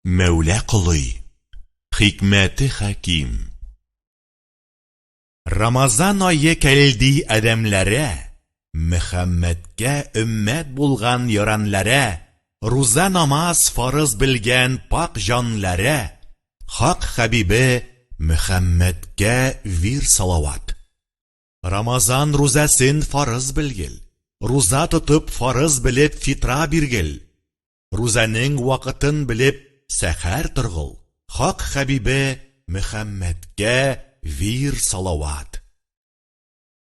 Мәүлә колый, хикмәте хәким. Рамазан ае кәлди адәмләрә, Мөхәммәдкә өммәт булган яранләрә, Руза намаз фарыз белгән пакь җанләрә, Хак хәбибе Мөхәммәдкә вир салават. Рамазан рузәсен фарыз белгел, Руза тотып фарыз белеп фитра биргел. рузаның вакытын белеп сәхәр торгыл, хак хәбибе Мөхәммәдкә вир салават.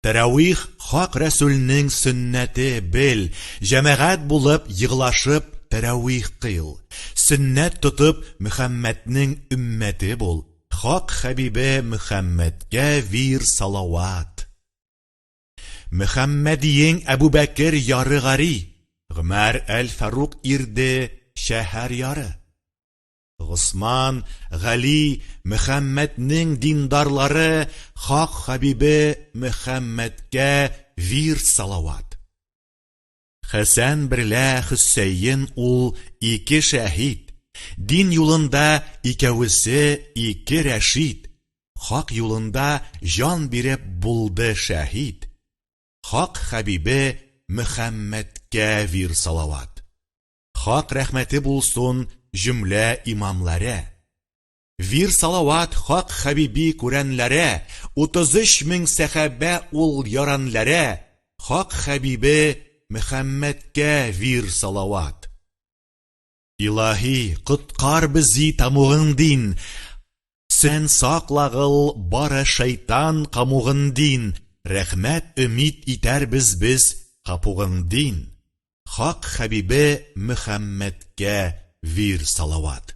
Тәрәвих хак рәсүлнең сөннәте бел, җәмәгать булып егылашып тәрәвих кыйл, сөннәт тотып Мөхәммәднең өммәте бул, хак хәбибе Мөхәммәдкә вир салават. Мөхәммәдиең Әбүбәкер яры гари, Гомәр әл-Фарук ирде шәһәр яры. Госман, Гали, Мөхәммәднең диндарлары Хак хәбибе Мөхәммәдкә вирд салават. Хәсән берлә Хөсәен ул ике шәһид, Дин юлында икәвесе ике рәшид, Хак юлында җан биреп булды шәһид, Хак хәбибе Мөхәммәдкә вир салават. Хак рәхмәте булсын җөмлә имамларә. Вир салават хак хәбиби күрәнләре, 33 мең сәхәбә ул яранләре, хак хәбибе Мөхәммәдкә вир салават. Илаһи, коткар бзи тамугын дин, Сен саклагыл бары шайтан камугын дин, Рәхмәт өмид итәрбез без капугын дин, Хак хәбибе Мөхәммәдкә вир салават.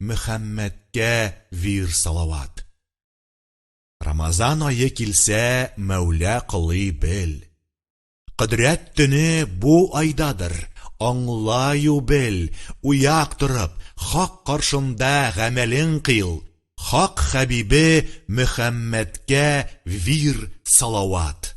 Мөхәммәдкә вир салават. Рамазан ае килсә, Мәүлә кылый бел. Кодрәт төне бу айдадыр, аңлаю бел, уяк торып, хак каршында гамәлең кыйл, хак хәбибе Мөхәммәдкә вир салават.